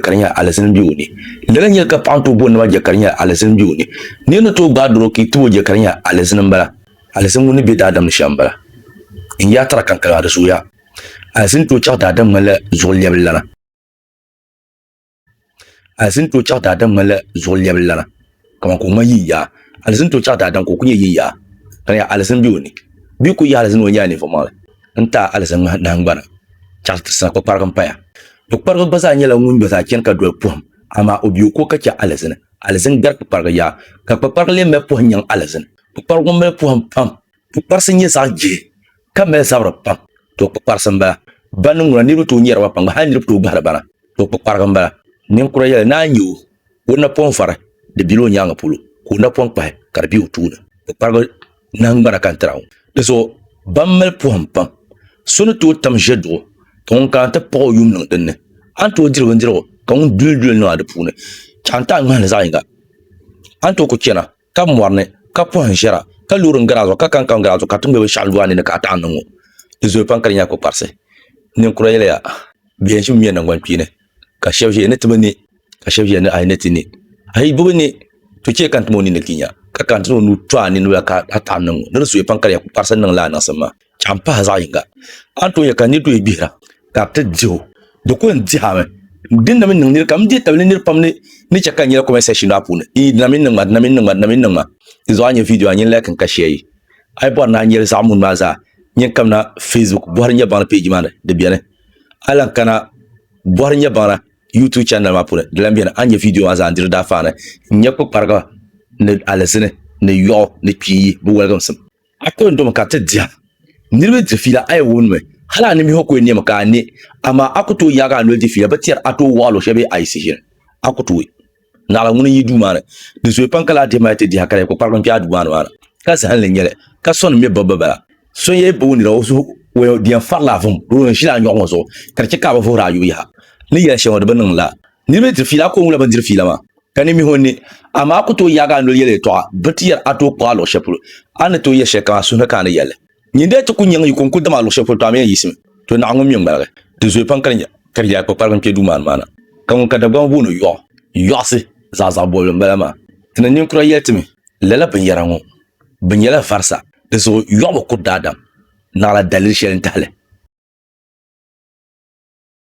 ka di nyɛla alizin bɛ o ni lala nyɛli ka paɣa tooi bɔni nima jɛ ka di nyɛla alizin bɛ o ni ni yɛn ni tooi gbaai doro ka i too jɛ ka di nyɛla alizin n bala alizin ŋun ni bɛ daadam ni shɛm bala n yaa tara kankali maa di zooya alizin tooi chaɣa daadam ŋmanila zuɣu lɛbili lana alizin tooi chaɣa daadam ŋmanila zuɣu lɛbili lana kamani ka o ŋmani yin yaa alizin tooi chaɣ daadam ka o ku nyɛ yin yaa ka di yaa alizin be o ni bee ka o yahi alizin ni o nyɛla ninvuɣ'maŋli n-taai alizin ŋmahi nahingbana chaɣ ti sina kpukpariga m-paya. Kpukpariga gba zaa nyɛla ŋun gba zaa chani ka doli pohim, amaa o be o ko ka chɛ alizin, alizin gari kpukpariga yaa, ka kpukpariga lee mali pohim nyaŋ alizin. Kpukpariga ŋɔ mali pohim pam, kpukparisi nyɛ zaɣ jihi ka mali zabiri pam, tɔ kpukparisi m-bala. Bani n-ŋuna niriba tooi nyɛri ba pam gba, hal niriba tooi gbahiri ba na, tɔ kpukpariga m-bala. Ninkura yɛli, Naa nya o, ka o napɔŋ vari di bela o nyaaŋa polo ka o napɔŋ kpahi ka di be o tooni. Kpukparigu nahingbana ka n tira ŋɔ. Dinzuɣu ba m mali pɔhim pam. So ni tooi tam ʒeduɣu ka ŋun kana ti paɣ o yuum niŋ din ni. A ni tooi diri bindirigu ka ŋun duli duli niŋ a di puuni. Chaŋ n ti a ŋmahili zaɣ yiŋga. A ni tooi kuli chana Ka mɔri ni, ka pɔhim ʒiɛra, ka loori n-gari a zuɣu, ka kankam gari a zuɣu, ka tiŋgbɛ binshɛɣu lu a ni ni, ka a taɣi niŋ o. Di zooya pam ka di nyɛla kpukparisi. Ninkura yɛliya, Bɛ yɛn ʒimi ŋmɛ naŋgbankpeeni, ka shɛba ʒiya ni ti bi ne, ka shɛba ʒiya ni a yi ni ti ne, a yi bi bi ne, to chɛ ka n tim o nini ti nya, ka ka n tim o nuu to a nini la ka a taɣi niŋ o. Ni di zooya pam ka di nyɛla kpukparisi n-niŋ la a niŋsim maa. ka n pahi zaɣ yinga a ni tooi nyɛ ka niraba tooi gbihira ka bi ti diho di ku yɛn dihami dinni mii niŋ nira pam ni chɛ ka n nyɛla kɔmɛnt sɛkshin maa puuni di na mini niŋma di na mini niŋma di na mini niŋma di zuɣu a ni nyɛ viidiyo maa a ni yɛn laikimi ka shɛɛri a yi bori ni a nyɛli zaɣ muni maa zaa yɛn kamina feesbuk bɔhiri n nyɛ baŋda pɛji maa ni di biɛni a lahi kana bɔhiri n nyɛ baŋda yuutub chanɛl maa puuni di lahi biɛni a ni nyɛ viidiyo maa zaa n diri daafeya ni n nyɛ kpukpariga ni alizini ni yoɣu ni kpiiyi bi woligisim A ko n-domi ka ti dihi niriba di fiila a yi wumdimi hali a nimbihi ko n-nɛmi ka a ne, amaa a ku tooi yaagi a noli di fiila bi tɛri a tooi waɣilo shɛli bee a yi sihiri a ku tooi naɣila ŋuni n-yi duu maa ni. Di zooi pam ka laa dihi mali ti dihi ka di ku kparigim kpe a duu maa ni maa ni. Ka zahinli n-nyɛ li ka sɔni mi bibbu bala. So n-yɛn yi booi nira o zuɣu o yɛn farila vum bee o yɛn ʒila a nyɔɣu ŋɔ zuɣu ka di chɛ ka a bi vuhiri a yubu yaha ni yɛli shɛli ŋɔ di bi niŋ la. Niriba ni diri fiila, a kooŋla bɛn diri fiila maa, ka ni mihi o ni. Amaa a ku tooi yaagi a noli yɛli yɛtɔɣa, bɛ ti yɛri a tooi kpuɣ a luɣ shɛli polo. A ni tooi yɛli shɛlikam a suhu ni ka a ni yɛl li. Nyin dee ti ku nyaŋ yi ko n-kul dam a luɣ shɛli polo, tɔ a mi yɛn yiɣisimi. Tɔ Naawuni ŋun mi ŋmaligi, di zooi pam ka di nya ka di yaai kpakpariga n-kpe duumani maa na. Ka ŋun ka Dagbamba booni yɔɣu, yɔɣusi, zaɣ zaɣ bɔbili m-bala maa. Ti ni ninkura yɛli ti mi, Lala binyɛra ŋɔ, bɛ nyɛla varisa, dinzuɣu yɔɣu bi kuri daadam, naɣila daliri shɛli n-tahi li.